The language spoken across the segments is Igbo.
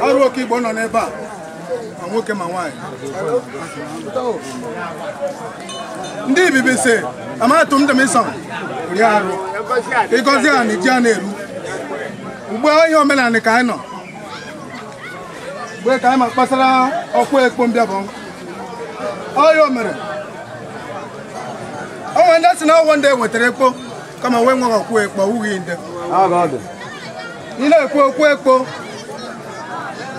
arọ oke igbo nọ n'ebe a ma nwoke ma nwaanyị ndị ibibi si amatụ m dịmịsọ ri arụ ịgọzi a na iji a na-eru ugbu a ihe omenala ka anyị nọ mgbe ka anyị ma kpasara okwu ekpo mbịabọ ọya o mere o nwere ndị sị na ọ wụ ndị ewetara ekpo kama wee nweghị ọkwa ekpo ọ wụghị nde ị na-ekwu okwu ekpo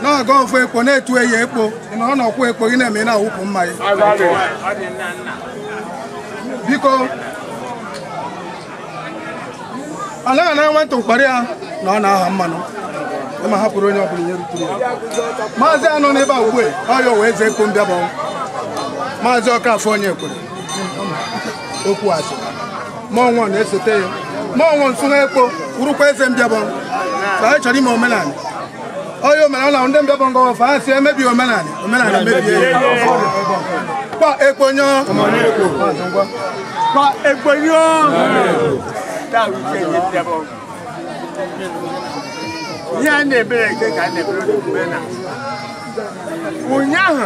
na-aga ọfụ ekpo na etu e yi ekpo ị nọrọ na ọkwa ekpo gị na-eme ị na-awụpụ mmaị biko anaghị ana nwata ụkpara ya na ọ na-aha mmanụ ma hapụrụ onye ọbụla ihe ruturu ya maazị a nọ n'ebe a ugbu a ọ ya wụ eze ekpo mbịabọ maazị ọkafọ onyekwere okwu azụ mọnwụ na-esote ya mọnwụ nsụnwa ekpo wụrụkwa eze mbịabọ ka anyị chọrọ ime omenala onye omenala ndị mbịabọ ngọwa fa asị emebi omenala omenala mebie ya kwa ekponyo kwa ekponyo ihe a na-ebere eke ka a na-ebere omume na ụnyaahụ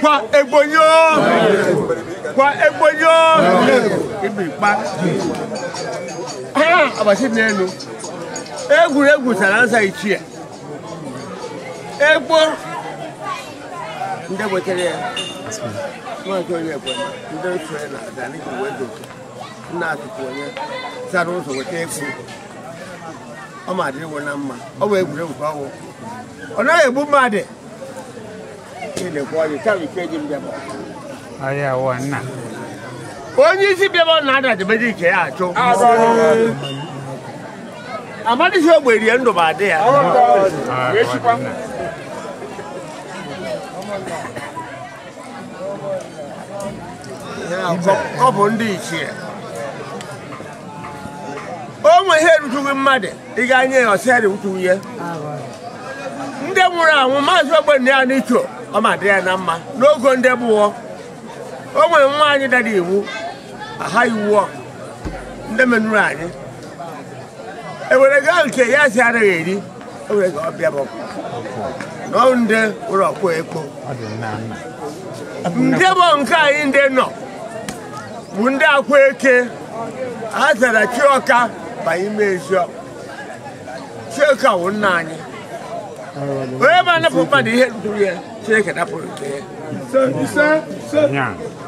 kwa ekponyo kwa ekponyo ibi kpa abasi n'elu egwuregwu sara nsa ichie ekpo ndị wetara ya maazị onye ekwe ndị otu ya na adani ka wee doke nna atụtụ onye zara ụzọ weta egwu ọ ma adịrị wụ na mma ọ bụ egwuregwu ka ọ wụ ọ naghị egbu mmadụ ị na-ekwe ọyị taa ikeji mbịabọ Aya wa nna. onye isi mbịabọ na ada dịbeji ike ya achụ amadịghị ogbe rie ndụ ma adị ya ọ bụ ndị ichie o nwe ihe erujughị mmadụ ịga anya ya ọ sị ya rewutuwu ya ndị nwụrụ anwụ maazị ogbonnaya n'icho ọ ma dị ya na mma n'ogo ndị gboo o nwere nwaanyị dara iwu aha iwu ọkụ ndị menụrụ anyị ewere gaa nke ya si anaghị eri ewere gaa mbịabọ na ọ ndị ụlọ ọkụ ekpo mbịabọ nke anyị ndị nọ bụ ndị akwa eke a zara chioka banye ime eziokwu chioka wụ nna anyị onye na-anapụ mmadụ ihe ruru ya chineke napụrụ nke ya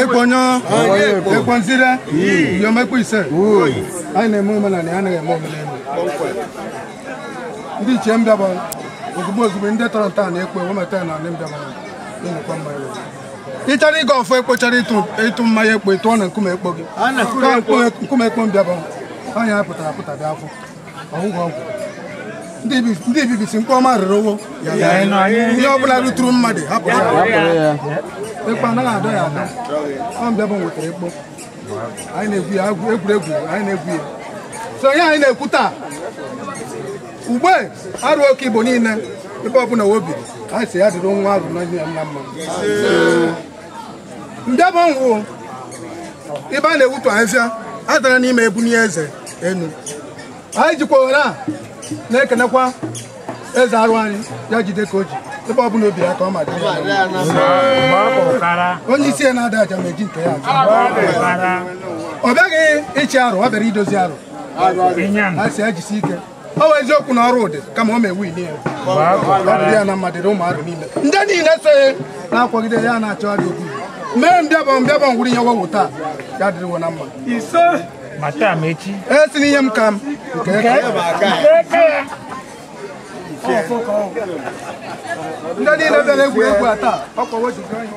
ekpo nyo ekpo nzire yomekwa ise anyị na-eme omenala ya anaghị eme omenala ndị ichie mbịabọ ozugbo ozugbo ndị tọrọ nta na ekpo wee meta na ndị mbịabọ na-emekwa mma ya ị chọrọ ịga ọfọ ekpo chọrọ ịtụ ịtụ mmanya ekpo ị tụọ na nkume ekpo gị nkume ekpo mbịabọ anya pụtara pụta bịa afọ ọgwụgwọ ọgwụ ndị bi- ndị bibisi nke ọma rere owo ya Ya, ya. na anyị- ihe ọbụla ruturu mmadụ hapụrụ ya Hapụrụ ya. ekpo anaghị adọ ya adọ ọ mbịabọ nwetara ekpo anyị na-egwu ya egwu- egwuregwu anyị na-egwu ya so ihe anyị na-ekwu taa ugbe arụ oke igbo niile ebe ọbụla o biri anyị sị ya dịrị nwa arụ na nne ya nna mma mbịabọ ọnwụ ibe a na-ewutu ahịfịa adara n'ime ebunye eze enu anyị jikwa ohere a na-ekenekwa eze arụ anyị ya jide ka o ji ebe ọ bụla o bi ya ka ọ ma dị onye isi ya na-ada aja ma eji nke ya ọ bịaghị ịchị arụ ọ bịara idozi arụ a sị ya jisi ike ọ bụ eziokwu na ọrụ ụdị kama o mewu ili ya ọ dị ya na mmadụ ụmụ arụ niile ndị niile so ya na-akwagide ya na-achọ adị okwu mee mbịabọ mbịabọ ngwụrụ ihe wo wụ taa ya dịrị wo na mma isee ma taa ma echi esi n'ihe m ka m nke ndị niile bịara egwuregwu a taa ụkwụ wo ji gaa ihe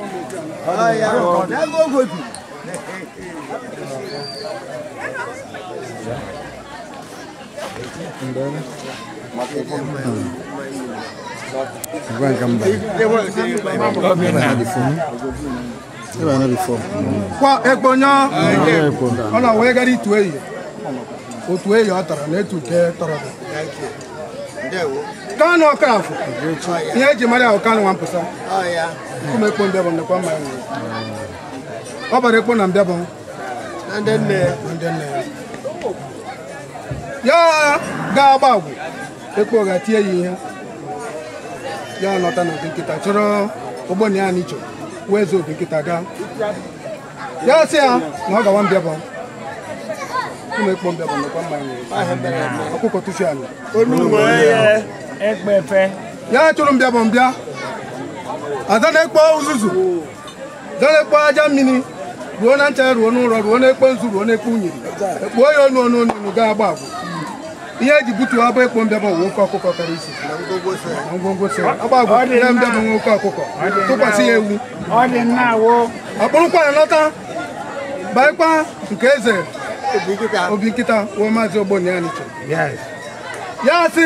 kwa ekpo nyọ ọ na wee gara itu eyi otu eyi ọ tara na etu nke tọrọ kanu okoroafọ ihe eji mara ahụ kanu nwa mpụsa nkume ekpo mbịabọ nnekwa mma ya nwere ọ bara ekpo na mbịabọ ya ga-agba agwụ ekpo ga tie ya ihe ya nụta na obinkịta chọrọ ogboni ya n'icho wee zoo obinkịta gaa ya sị ya na ọ gawa mbịabọ ụmụ ekpo mbịabọ nakwa mmanya ọkụkọ tufi ala ya chụrụ mbịabọ mbịa aza na-ekpo uzuzu delekwa aja mini ruo na ncha ruo n'ụrọ ruo n'ekpo nzu ruo n'ekpo unyiri ekpuo ya onu onu onu ga agba agwụ ihe eji butuo abụ ekpo mbịaba wụ oke ọkụkọ kara isi na ngwongwo so agba agwụ na mbịaba nwe oke ọkụkọ tụkwasị ya ewu akpụrụkwa ya lọta baịkwa nke eze obinkita wụ maazị ogbonnaya n'iche ya sị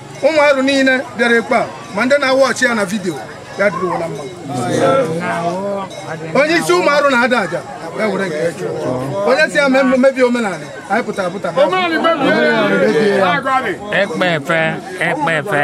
ụmụ arụ niile bịara ekpe a ma ndị na-awatch ya na video ya dịrịwala mma onye isi ụmụ arụ na-ada aja ya were nke ya chụọ. onye si ya mee mmebi omenala anyị pụtara pụta bịa. ekpe efe ekpe efe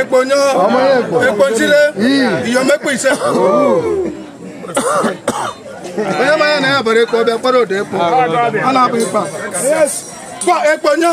ekponyo ekpochile iyomekpo ise onye manya na ya bara ekpo ọbịa kpọrọ odo ekpo a na-abụ ikpa ekponyo